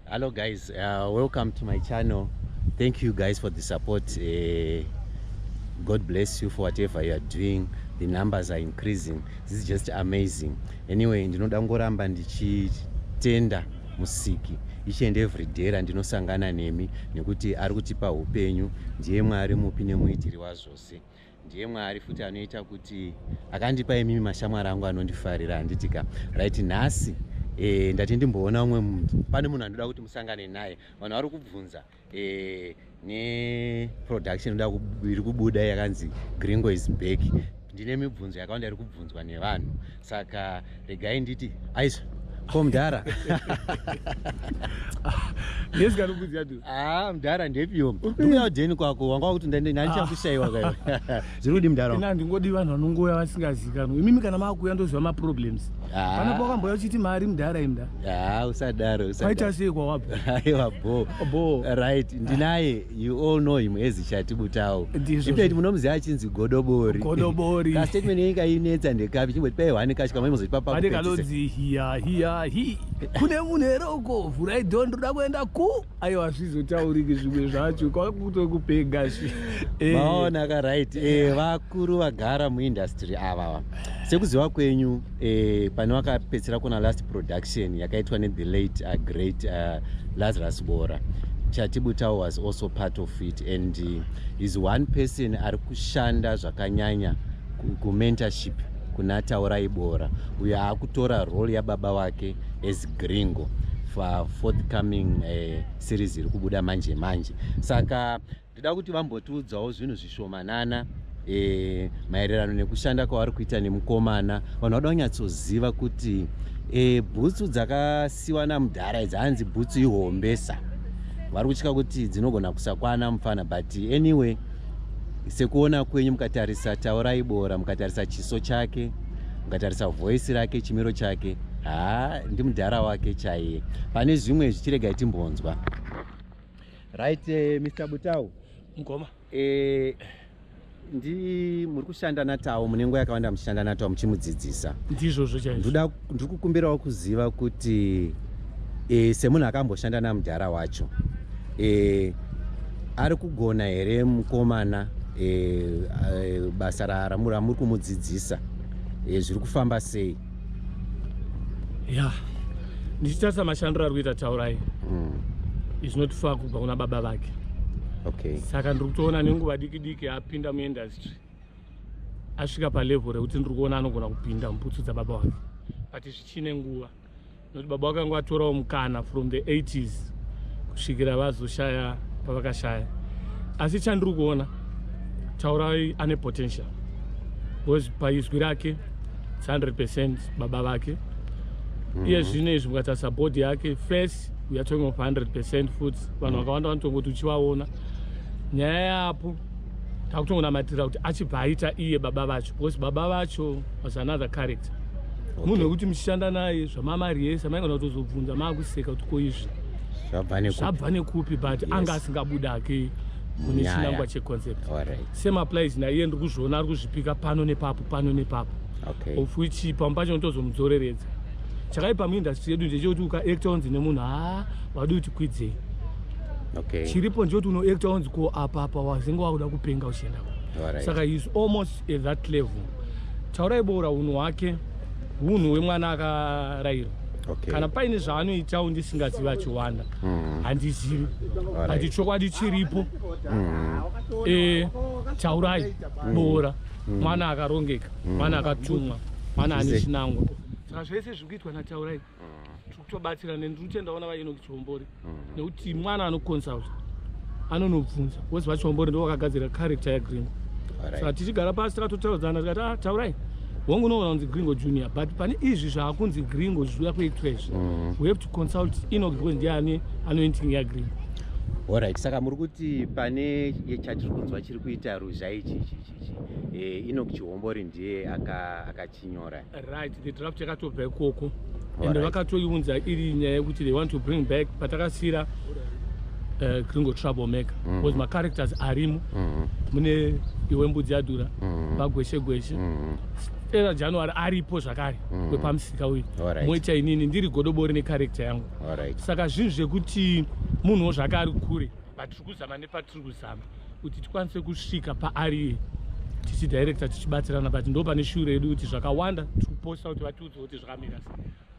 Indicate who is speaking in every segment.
Speaker 1: hello guys uh, welcome to my channel thank you guys for the support uh, god bless you for whatever you are doing the numbers are increasing this is just amazing anyway ndinoda ngoramba ndichitenda musiki each and every day randinosangana nemi nekuti ari kutipa upenyu ndiye mwari mupi nemuitiri wazvose ndiye mwari futi anoita kuti akandipa imimi mashamwari angu anondifarira handitika right nhasi e, ndati ndimboona umwe munhu pane munhu anoda kuti musangane naye vanhu vari kubvunza e, neproduction inoda iri kubuda yakanzi gringo is back ndine mibvunzo yakawanda iri kubvunzwa nevanhu saka regai nditi aisa ko mdhara ah, mdhara ndepiwo uya udheni kwako wanga wakuti ndanichakushaiwa ah. kayo zviri kudi mdhara ina ndingodi vanhu vanongouya
Speaker 2: vasingazikanwa imimi kana maakuuya ndoziva maproblems ah. pana pakambouya uchiti mari mdhara imda usadaro
Speaker 1: aita sei kwawabva
Speaker 2: aiwa
Speaker 1: bo right ndinaye You all know him as Chatibutawo. Ibet munomuziva achinzi Godobori. Godobori. Ka statement yenyu kainetsa ndekapi chimbo tipai hwani kacho kamwe muzotipa pakupedzisa. Pane kanonzi hiya
Speaker 2: hiya hi. Kune munhu here uko vhurai dhoo ndoda kuenda ku. Ayo hazvizotauriki zvimwe zvacho kwakutokupenga zvi. Eh. Maona ka
Speaker 1: right. Eh vakuru vagara muindustry ava. Sekuziva kwenyu eh, pane vakapedzisira kuna last production yakaitwa nethe late uh, great uh, lazarus bora chatibutawo was also part of it and uh, is one person ari kushanda zvakanyanya kumentorship kuna taurai bora uyo akutora role yababa wake as gringo for forthcoming uh, series iri kubuda manje manje saka Ndida kuti vambotiudzawo zvinhu zvishomanana e, maererano nekushanda kwavari kuita nemukomana vanhu vada kunyatsoziva kuti e, bhutsu dzakasiwa namudhara idzi hanzi bhutsu ihombesa vari kutya kuti dzinogona kusakwana mufana but anyway sekuona kwenyu mukatarisa taurai bora mukatarisa chiso chake mukatarisa voisi rake chimiro chake haa ndimudhara wake chaiye pane zvimwe zvichiregai timbonzwa right uh, eh, mr butau mkoma
Speaker 2: eh, ndi
Speaker 1: muri kushanda natawo mune nguva yakawanda muchishanda natawo muchimudzidzisa ndizvozvo chaizvo
Speaker 2: ndiri kukumbirawo
Speaker 1: kuziva kuti e, semunhu akamboshanda namudhara wacho e, ari kugona here mukomana e, e, basa ramuri kumudzidzisa e, zviri kufamba sei ya
Speaker 2: ndichitarisa mashandiro ari kuita taurai mm. is not far kubva kuna baba vake okay. saka ndiri kutoona nenguva diki diki apinda muindustry asvika palevel rekuti ndiri kuona anogona kupinda muputsu dzababa wake but zvichine nguva Noti baba vakanga vatorawo mukana from the 80s kusvikira vazoshaya pavakashaya. Asi chandiri kuona Taurai ane potential because paizwi rake 100% baba vake mm -hmm. iye zvino izvi mukatarisa body yake face we are talking of 100% futi vanhu mm -hmm. vakawanda vanotongoti uchivaona nyaya yapo takutongonamatira kuti achibva aita iye baba vacho because baba vacho was another character munhu wekuti muchishanda naye zvamamari yese maigona kutozobvunza maakuseka kuti ko izvi zvabva nekupi but anga asingabuda ake mune chinangwa checoncept same applies naiye ndiri kuzviona ari kuzvipika pano nepapo pano nepapo of which pamwe pacho ndotozomudzoreredza chakaipa muindustry yedu ndechekuti ukaacta onzi nemunhu haa wadi kuti kwidzei okay. chiripo ndiyoti unoacta wanzi ko apa apa wazenge wakuda kupenga uchienda right. saka is almost at that level taurai boura unhu hwake unhu hwemwana akarayirwa okay. kana paine zvaanoitawo ndisingazivi achiwanda mm. handizivi handi chokwadi chiripo mm. e, taurai mm. boura mm. mwana akarongeka mm. mwana akatumwa mwana ane chinangwa saka zvese zviri kuitwa nataurai tikutobatsira neni ndiri kutenda ona vaenoki chihombori mm. nekuti mwana anoconsult anonobvunza wozi vachihombori ndivo vakagadzira character yagringo saka tichigara pasi takatotaudzana tikati ah, taurai hongu unoona kunzi gringo junior but pane izvi zvaakunzi gringo zviuya kuitwa izvi mm. we have to consult enoki because ndiye ane anointing yagringo orit
Speaker 1: saka muri kuti pane chatiri kunzwa chiri kuita ruzha ichi ichi ichi eh, enoki chihombori ndiye aka tinyore right the draft
Speaker 2: yakatobva ikoko and vakatoiunza iri nyaya yekuti they want to bring back patakasira uh, gringo trouble maker mm -hmm. because macharacters arimo mm -hmm. mune iwe mbudzi yadura mm -hmm. vagweshe gweshe mm -hmm era january aripo zvakare mm. wepamusika uyu moita inini ndiri godobori necharekta yangu saka zvinhu zvekuti munhuwo zvakaari kure vatiri kuzama nepatiri kuzama kuti tikwanise kusvika paari tichidirector tichibatsirana but ndo pane shure yedu kuti zvakawanda tikuposta kuti vatiudze kuti zvakamira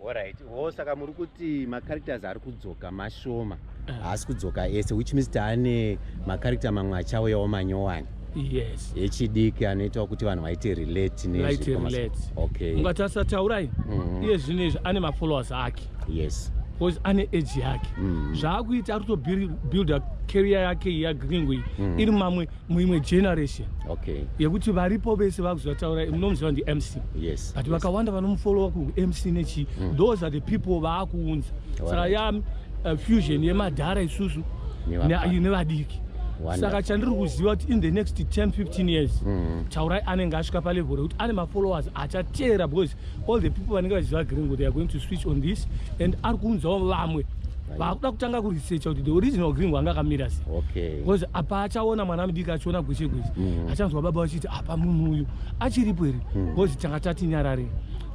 Speaker 2: orit wo
Speaker 1: saka muri kuti macharacters ari kudzoka mashoma eh. haasi kudzoka ese which means taane macharacter mamwe achauyawo manyowani yes
Speaker 2: echidiki anoitawo
Speaker 1: kuti vanhu vaite relate
Speaker 2: nezviokatasataurai mhm. iye zvinezvi ane mafollowers ake yes because
Speaker 1: ane age
Speaker 2: yake mm. zvaakuita ari kutobuilda career yake yagringo iyi mm. iri mamwe muimwe generation okay. yekuti
Speaker 1: varipo
Speaker 2: vese vakuzvataura munomuziva ndimc yes. but vakawanda
Speaker 1: yes. vanomufolowa
Speaker 2: kumc nechii mm. those are the people vaakuunza saka ya uh, fusion yemadhara isusu nevadiki saka chandiri kuziva kuti in the next 10 15 years mm. taurai anenge asvika palevel rekuti ane mafollowers achateera because all the people vanenge vachiziva green ngo they are going to switch on this and ari kuunzawo vamwe vakuda kutanga kuresearcha kuti the original green wanga akamira se bcause apa achaona mwana mudiki achiona gweshe gweshe mhm. achanzwa baba vachiti apa munhu uyu achiripo here bcause mhm. tanga tati nyarare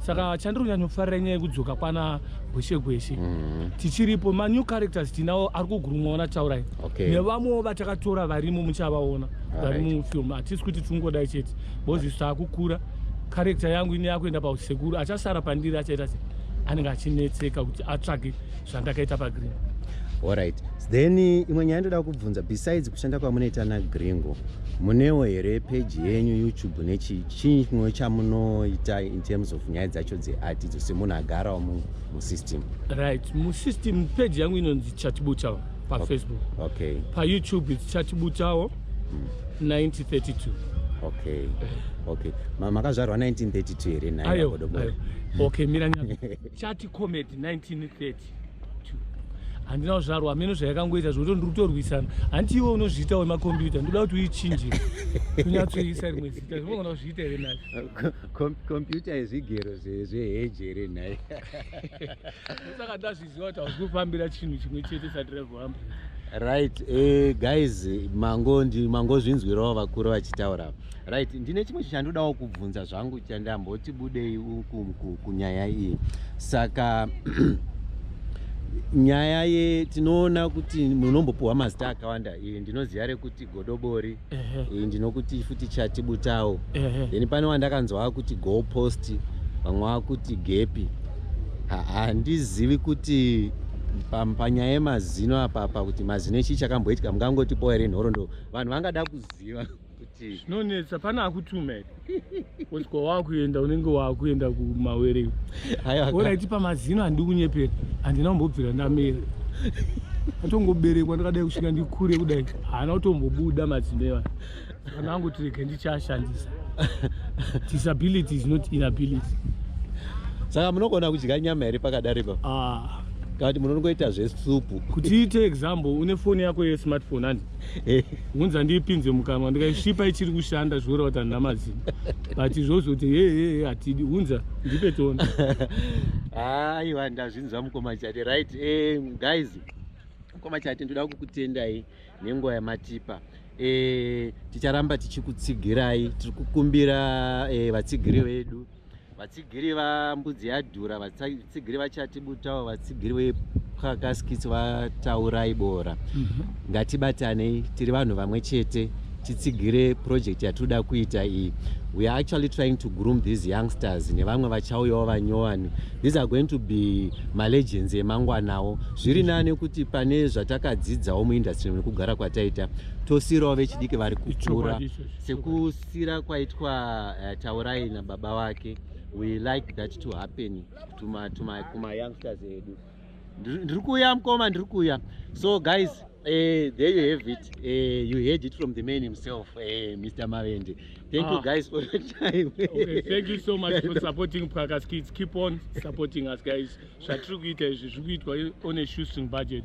Speaker 2: saka chandiri kunyanyofarira nyaya yekudzoka kwana gweshe gweshe mhm. tichiripo manew characters tinawo ari kugurumwawo nataurai nevamwewo vatakatora varimo muchavaona vari mufilm hatisi kuti tingodai chete bcause isu taakukura character yangu ine yakuenda pausekuru achasara pandiri achaita se anenge achinetseka kuti atsvage zvandakaita pagreen alright
Speaker 1: then imwe nyaya ndoda kubvunza besides kushanda kwamunoita nagringo munewo here peji yenyu youtube nechi chii chimwe chamunoita in terms of nyaya dzacho dzeart idzo semunhu agarawo musystem right
Speaker 2: musystem peji yangu inonzi chatibutawo pafacebook okay
Speaker 1: payoutube its
Speaker 2: chatibutawo 1932 hmm. okay
Speaker 1: okay makazvarwa 1932 here nhayo okay mira nyama
Speaker 2: chati comedy 1930 handina kuzvarwa hameno zvayakangoita zvokuti ndiri kutorwisana hanti iwe unozviita wemakombiyuta ndoda kuti uichinjire kunyatsoisa rimwe zita zvimogona kuzviita here nhai kompyuta
Speaker 1: yezvigero zveheji here nhai
Speaker 2: kufambira chinhu chimwe chete sadrevambe right
Speaker 1: uh, guys mango mangozvinzwirawo vakuru vachitaura right ndine chimwe chichandodawo kubvunza zvangu chandamboti budei kunyaya iyi saka nyaya ye tinoona kuti munombopiwa mazita akawanda iyi ndinoziva rekuti godobori iyi ndinokuti futi chati butawo then pane wandakanzwa akuti go post vamwe vakuti gepi handizivi kuti panyaya yemazino apapa kuti mazino chii chakamboitika mungangotipo here nhorondo vanhu vangada kuziva kuti zvinonetsa pane
Speaker 2: akutume kusvika wakuenda unenge wakuenda kumawere oraiti pamazino handi kunyepera handina kumbobvira ndamera atongoberekwa ndakadai kusvika ndikure kudai haana kutombobuda mazino eva kana angoti rege ndichashandisa disability is not inability
Speaker 1: saka munogona kudya nyama here pakadari pa ah. kana kuti munongoita zvesupu kuti iite example une
Speaker 2: foni yako yesmartphone ani ngunzi andiipinze mukanwa ndikaisvipa ichiri kushanda zvikureva kuti handina mazino but izvozvo kuti hehe hatidi hunza ndipe toni
Speaker 1: aiwa ndazvinzwa mukoma chati right eh, guys mukoma chati ndoda kukutendai nenguva yamatipa eh, ticharamba tichikutsigirai tiri kukumbira eh, vatsigiri vedu vatsigiri vambudzi yadhura vatsigiri vachati butawo vatsigiri vepwakaskitsi vataurai bora mhm. ngatibatanei tiri vanhu vamwe chete titsigire project yatinoda kuita iyi we are actually trying to groom these youngsters nevamwe vachauyawo vanyowani these are going to be malegends emangwanawo zviri nani kuti pane zvatakadzidzawo muindustry nekugara kwataita tosiyirawo vechidiki vari kukura kubatsira kwaitwa uh, taurai nababa wake we like that to happen tuma, tuma, kuma youngsters edu ndiri kuuya mkoma ndiri kuuya so guys uh, there you have it uh, you heard it from the man himself uh, eh, mr mavende thank ah. you guys for your time okay, thank you so
Speaker 2: much for supporting prakas kids keep on supporting us guys zvatiri kuita izvi zviri kuitwa on a shoestring budget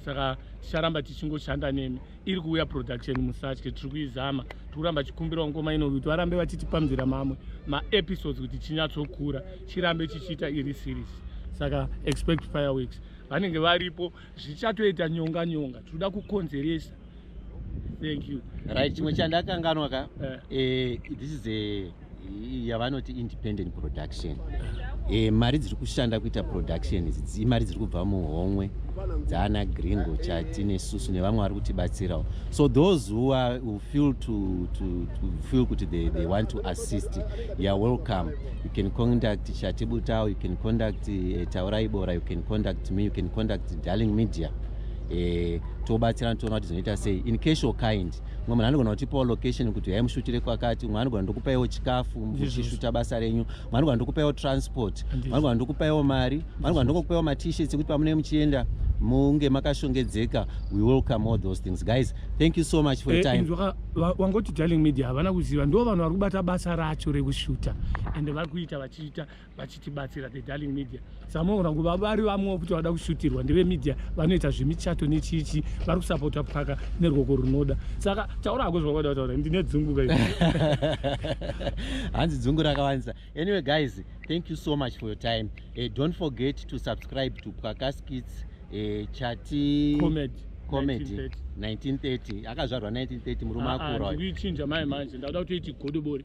Speaker 2: saka ticharamba tichingoshanda nemi iri kuuya production musatye tiri kuizama tiri kuramba chikumbirawo ngoma ino kuti varambe vachitipambira mamwe maepisodes kuti chinyatsokura chirambe chichiita iri series saka expect fireworks vanenge varipo zvichatoita nyonga nyonga tinoda kukonzeresa
Speaker 1: thank you
Speaker 2: right
Speaker 1: chimwe chandakanganwa
Speaker 2: ka
Speaker 1: uh, uh, this
Speaker 2: is a
Speaker 1: yavanoti independent production e, mari dziri kushanda kuita production idzi imari dziri kubva muhomwe dzaana gringo chati nesusu nevamwe vari kutibatsirawo so those who, are, who feel to, to, to feel kuti they, they want to assist youare welcome you can contact chati butao you can contact uh, taurai bora you can contact me you can contact darling media e, tobatsirana toona kuti zvinoita sei in case of kind mumwe munhu anogona kutipawo location kuti yai mushutire kwakati mumwe anogona ndokupaiwo chikafu muchishuta basa renyu mumwe anogona ndokupaiwo transport mumwe anogona ndokupaiwo mari mumwe anogona ndokupaiwo matishets ekuti pamunee muchienda munge makashongedzeka we welcome all those things guys thank you so much for your eh, time wangoti darling
Speaker 2: media havana kuziva ndo vanhu vari kubata basa racho rekushuta ende vari kuita vachiita vachitibatsira the darling media samoona nguva vari vamwe kuti vada kushutirwa ndeve media vanoita zvemichato nechichi vari kusapota paka nerwoko runoda saka taura hako zvavada kutaura ndine dzungu ka
Speaker 1: hanzi dzungu rakawanisa anyway guys thank you so much for your time uh, don't forget to subscribe to pwakaskits uh, eh, chati comedy comedy 1930 akazvarwa 1930 murume ah, ah, akura uyu kuichinja mai manje
Speaker 2: ndakuda kutoiti godobori